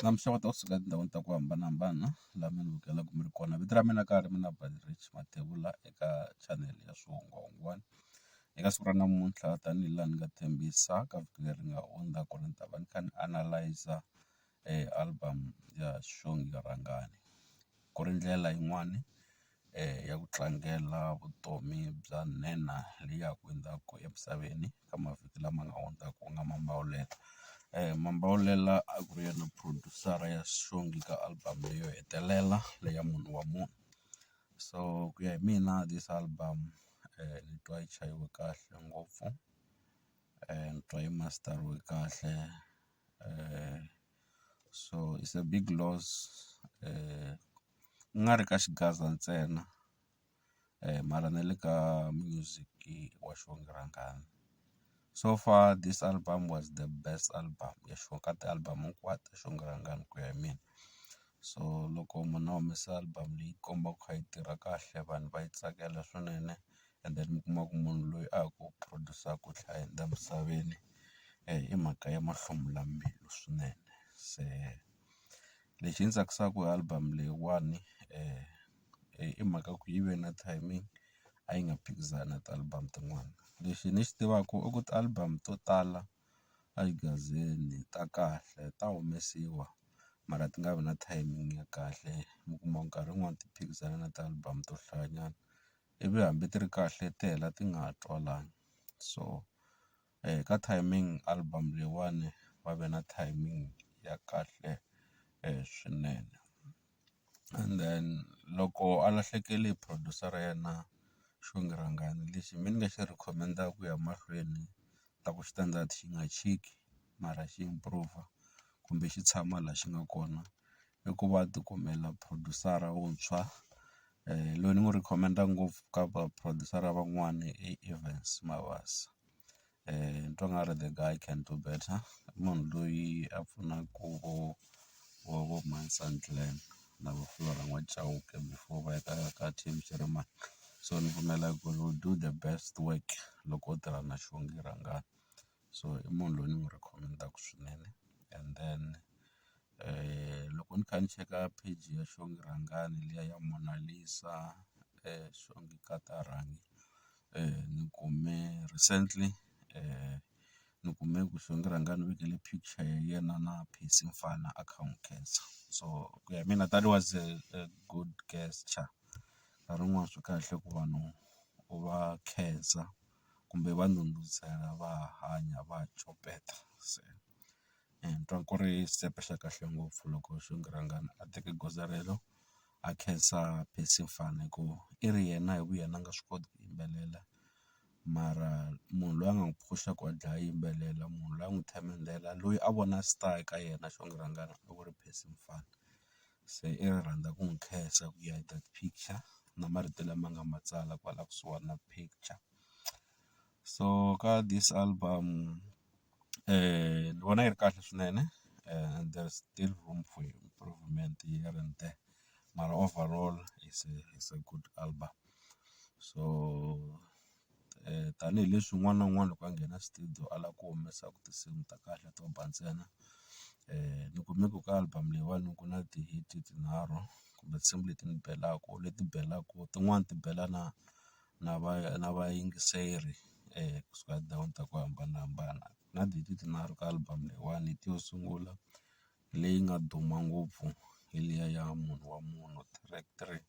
Namuntlha ni ta suka etindhawini ta ku hambanahambana laha mi ni vukelaku mi ri kona vito ra mina ka ha ri mina Baderecci Mathebula eka chanele ya swihungwahungwana eka siku ra namuntlha tanihi laha ni nga tshembisa ka vhiki leri nga hundza ku ri ni ta va ni kha ni analyser album ya xongi rhangani ku ri ndlela yin'wani ya ku tlangela vutomi bya nhenha leyi ya ku endzhaku emisaveni ka mavhiki lama nga hundza ku nga Mambawulela. Mambawulela a ku ri yena producer ya xihundla ka album leyi yo hetelela leyi ya munhu wa munhu so ku ya hi mina this album ni twa yi chayiwe kahle ngopfu ni twa yi masteriwe kahle . so it's a big loss ku nga ri ka xigaza ntsena mara na le ka music wa xirhangana so far this album was the best album ya sure ka ti-album hinkwato xirhangana ku ya hi mina so loko munhu a humesa album leyi komba ku kha yi tirha kahle vanhu va yi tsakela swinene and then mi kuma ku munhu loyi a ha ku produce-aka nhlayo laha misaveni i mhaka ya mahlumulambilu swinene. Se lexi ndzi tsakisaka hi album leyiwani i mhaka ku yi ve na timing a yi nga phikizani na ti-album tin'wana. Lexi ni xi tivaka i ku ti-album to tala a xigazini ta kahle ta humesiwa mara ti nga vi na timing ya kahle mi kuma nkarhi wun'wani ti phikizana na ti-album to hlayanyana. ivi hambi ti ri kahle ti hela ti nga ha twalani. So ka timing album leyiwani va ve na timing ya kahle swinene. And then loko a lahlekele hi producer ra yena Xongi Rhangani lexi me ni nga xi recommend-aka ku ya mahlweni ni ta ku xi ta endla xi nga chiki mara xi improve kumbe xi tshama laha xi nga kona i ku va a ti kumela producer-a wuntshwa loyi ni n'wi recommend-a ngopfu ka va producer-a van'wani i Evans Mabasa ni twa nga ri the guy can do better i munhu loyi a pfunaku vo vo vo Manson Clan na vo Flora N'wayi Chauke before va ya ka ka Team Jeremane so ni pfumela ku he will do the best work loko o tirha na Xongi Rhangani. so i munhu loyi ni n'wi rhekhomendaku swinene and then loko ni kha ni cheka page ya xongi rhangani liya ya Mona Lisa xongi nkata rhangi ni kume recently ni kume ku xongi rhangani u vekele picture ya yena na Percy Mfana a kha a n'wi khensa so ku ya hi mina that was a good gesture nkarhi wun'wani swi kahle ku vanhu u va khensa. kumbe va ndhundhuzela va hanya va copeta se ni twa ku ri xitempe xa kahle ngopfu loko xinkarhana a teke goza rero a khensa Percy Mfana hi ku i ri yena hi vu yena a nga swi koti ku yimbelela mara munhu loyi a nga n'wi phusha ku a dlaya a yimbelela munhu loyi a n'wi themendela loyi a vona star eka yena xinkarhana a ku ri Percy Mfana. Se i nga rhandza ku n'wi khensa ku ya hi that picture na marito lama nga ma tsala kwala kusuhana na picture so ka this album ni vona yi ri kahle swinene and there is still room for improvement here and there mara overall is a is a good album so. tanihileswi un'wana na un'wana loko a nghena studio a lava ku humesa tinsimu ta kahle to ba ntsena ni kume ku ka album leyiwani ku na ti-hit tinharhu kumbe tinsimu leti ni belaku leti belaku tin'wani ti bela na na va na vayingiseri kusuka tindhawini ta ku hambanahambana na tinharhu ka album leyiwani hi yo sungula leyi nga duma ngopfu hi liya ya munhu wa munhu track three.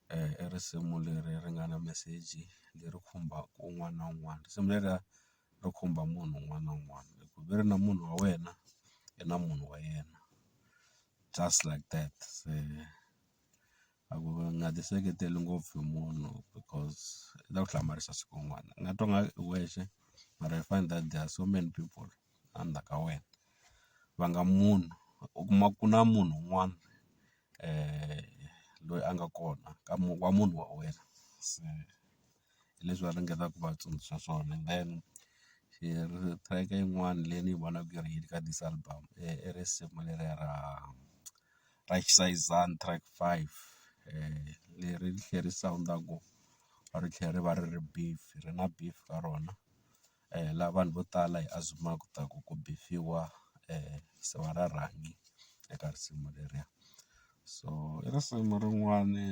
I risimu leri ri nga na meseji leri khumbaka un'wana na un'wana. Risimu leriya ri khumba munhu un'wana na un'wana hi ku ve ri na munhu wa wena i na munhu wa yena just like that se. A ku nga ti seketeli ngopfu hi munhu because i ta ku hlamarisa siku rin'wana u nga twa nga ri u wexe mara you find that there are so many people a ndzhaku ka wena va nga munhu u kuma ku na munhu un'wana loyi a nga kona ka wa munhu wa wena se hi leswi va ringetaka ku va tsundzuxa swona and then track yin'wana leyi ni yi vonaka yi ri hit ka this album i risimu leriya ra. ra Xisayizana track five leri ri tlhela ri sawunda ku ri tlhela ri va ri ri beef ri na beef ka rona laha vanhu vo tala hi azimaka ta ku ku beef-iwa se va ra rhanga eka risimu leriya so i risimu rin'wani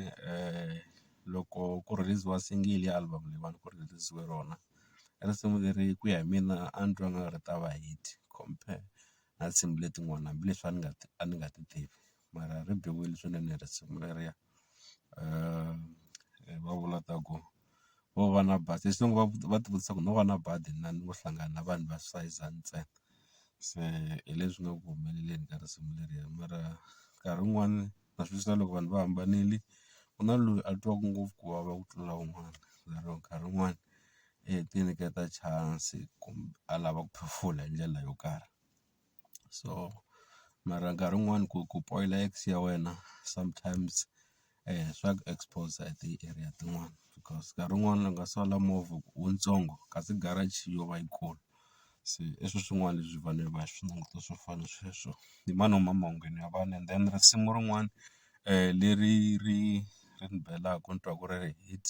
loko ku rhiliziwa single ya album leyi va ku rhiliziwe rona risimu leri ku ya hi mina a ni twa nga ri ta va hit compare. na tinsimu letin'wana hambileswi a ni nga a ni nga ti tivi mara ri biwile swinene risimu leriya va vula ta ku wo va na badi hi xilungu va va ti vutisa ku no va na badi na ni ngo hlangana na vanhu va sayizi ntsena se hi leswi nga ku humeleleni ka risimu leriya mara nkarhi wun'wani. na swi vona loko vanhu va hambanile ku na loyi a twaka ngopfu ku vava ku tlula un'wana lero nkarhi wun'wani i ti nyiketa chance kumbe a lava ku phofula hi ndlela yo karhi so mara nkarhi wun'wani ku ku poyila ex ya wena sometimes swa ku expose hi ti area tin'wani because nkarhi wun'wani u nga sola movha wu ntsongo kasi garage yo va yikulu. se i swi swin'wana leswi vanhu va swi languta swo fana na sweswo ni ma nwa mawondzweni ya vanhu and then risimu rin'wana leri ri ri ni belaku ni twa ku ri hit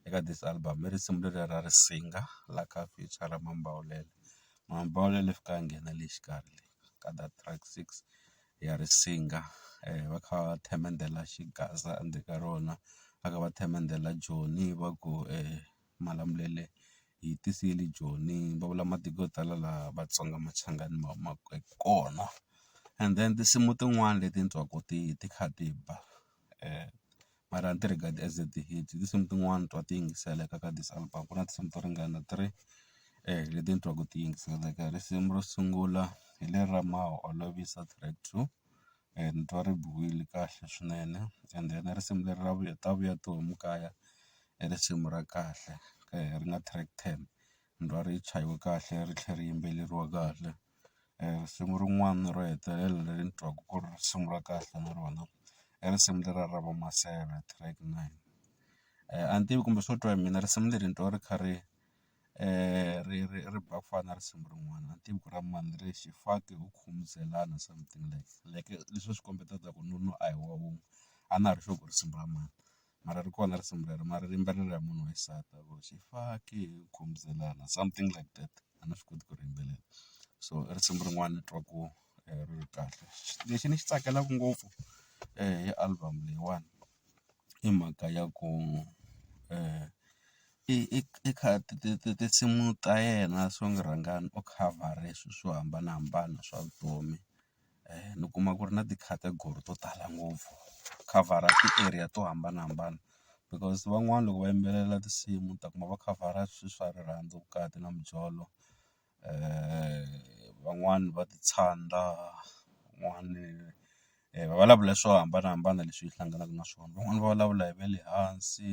eka this album i risimu leriya ra Risinga la ka feature Mambawulele, Mambawulele i fike a nghena le xikarhi le ka that track six ya Risinga va kha va themendela xigaza endzeni ka rona va kha va themendela Joni va ku . Malamulele hi tiseli joni va vula matiko yo tala laha Vatsonga Machangani ma humaka kona and then tinsimu tin'wani leti ni twaku ti ti kha ti ba mara a ni ti regard-i as ti-hit i tinsimu tin'wani twa ti yingiseleka ka this album ku na tinsimu to ringana three leti ni twaku ti yingiseleka risimu ro sungula hi leri ra ma olovisa track two. ni twa ri biwile kahle swinene and then risimu leri ra vuya ta vuya tihomu kaya i risimu ra kahle ri nga track ten ni twa ri chayiwe kahle ri tlhe ri yimbeleriwa kahle. Risimu rin'wani ro hetelela leri ni twaka ku ri risimu ra kahle na rona i risimu leriya ra vo Maseve track nine a ni tivi kumbe swo twa hi mina risimu leri ni twa ri kha ri. ri ri ri ba ku fana na risimu rin'wana a ni tivi ku ra mani ri xifaki wu khumuzana something like like leswi swi kombetaka ku nuna a hi wa wun'we a na ha ri sure ku i risimu ra mani mara ri kona risimu rero mara ri yimbelela hi munhu wa xisati a vo xifaki hi khumuzana something like that a ni swi koti ku ri yimbelela so i risimu rin'wana ni twa ku ri kahle lexi ni xi tsakelaka ngopfu hi album leyiwani. i mhaka ya ku i i i kha ti ti ti tinsimu ta yena so ni rhanga ni u khavhara swilo swo hambanahambana swa vutomi ni kuma ku ri na ti-category to tala ngopfu u khavhara ti-area to hambanahambana because van'wana loko va yimbelela tinsimu u ta kuma va khavhara swilo swa rirhandzu vukati na mijolo. van'wani va ti tshanda van'wani va vulavula swo hambanahambana leswi hi hlanganaka na swona van'wani va vulavula hi va le hansi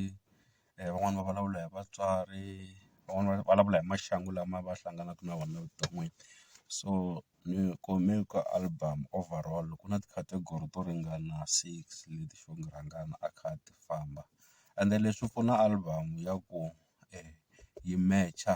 van'wani va vulavula hi vatswari van'wani va vulavula hi maxangu lama va hlanganaka na wona evuton'wini so ni kume ka album over all ku na ti-category to ringana six leti swo ku rhangana a kha a ti famba ende leswi pfuna album ya ku yi match-a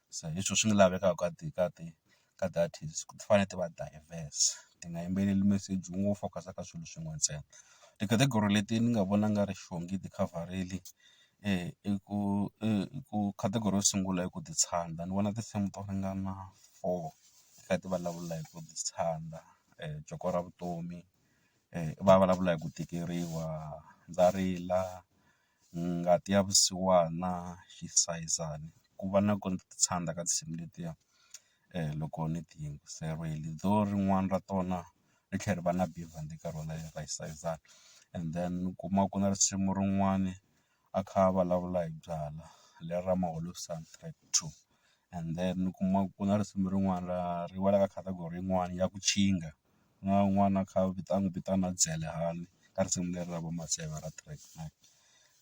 se hi swo swi nga lavekaka ka ti ka ti ka ti artist ku ti fanele ti va diverse ti nga yimbeleli meseji wun'we wu focus-a ka swilo swin'we ntsena ti-category leti ni nga vona nga ri xongi ti khavharili i ku i ku category yo sungula i ku ti tshanda ni vona tinsimu to ringana four ka ti vulavula hi ku ti tshanda joko ra vutomi va vulavula hi ku tikeriwa ndza rila. Ngati ya vusiwana xi sayizana ku va na ku ti tshanda ka tinsimu letiya loko ni ti yingiserile though rin'wana ra tona ri tlhela ri va na bivhandi ka rona ra yi sayizana and then u kuma ku na risimu rin'wana a kha a vulavula hi byalwa leri ra maholovisani track two and then u kuma ku na risimu rin'wana ra ri wela ka category yin'wana ya ku tshinga. na n'wana a kha a vita a n'wi vitana Dyelehani ka risimu leri ra vo Matseva ra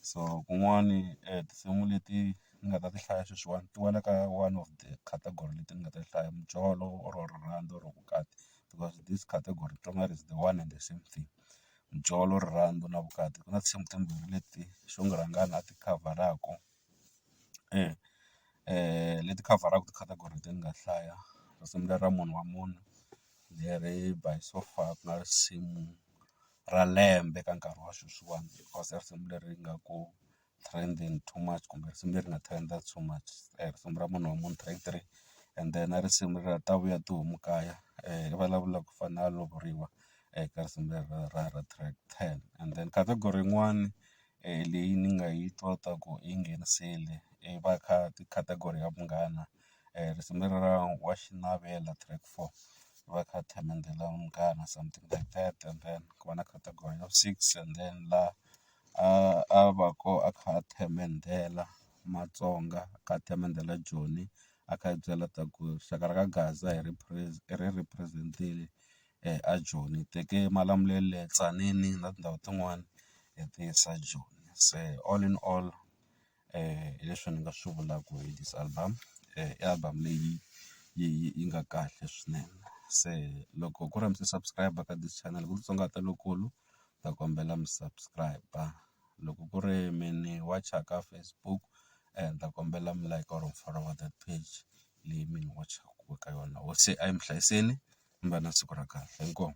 so kun'wani tinsimu leti ni nga ta ti hlaya sweswiwani ti wela ka one of the category leti ni nga ta ti hlaya mijolo or rirhandzu or vukati because this category to nga ri is the one and the same thing mijolo rirhandzu na vukati ku na tinsimu timbirhi leti xo ku rhangana a ti khavharaku. e leti khavharaka ti-category leti ni nga hlaya ku sungula ra munhu wa munhu leri by so far ku nga risimu ra lembe ka nkarhi wa sweswiwani because i risimu leri nga ku trending to much kumbe risimu leri nga trend-a to much risimu ra munhu wa munhu track three and then na risimu ra ta vuya tihomu kaya ri vulavula ku fana na lovoriwa eka risimu leri ra ra track ten and then category yin'wani leyi ni nga yi twa ta ku yi nghenisile i va ka category ya munghana risimu lera ra wa xiavelo track four va kha themendela munghana something like that and then ku va na category ya vu six and then la a a va ko a kha a themendela matsonga a kha a themendela joni a kha a byela ta ku rixaka ra ka gaza hi ri ri represent-ile. eJoni hi teke Malamulele, le Tzaneen na tindhawu tin'wani hi ti yisa Joni. Se all in all hi leswi ni nga swi vulaka hi this album i album leyi yi yi yi nga kahle swinene. Se loko ku ri mi se subscribe ka this channel ku titsongahata lokulu ni ta kombela mi subscribe loko ku ri mi ni wacha ka Facebook ni ta kombela mi like or follow that page leyi mi n'wi wachaku eka yona hosi a yi mi hlayiseni mi va na siku ra kahle inkomu.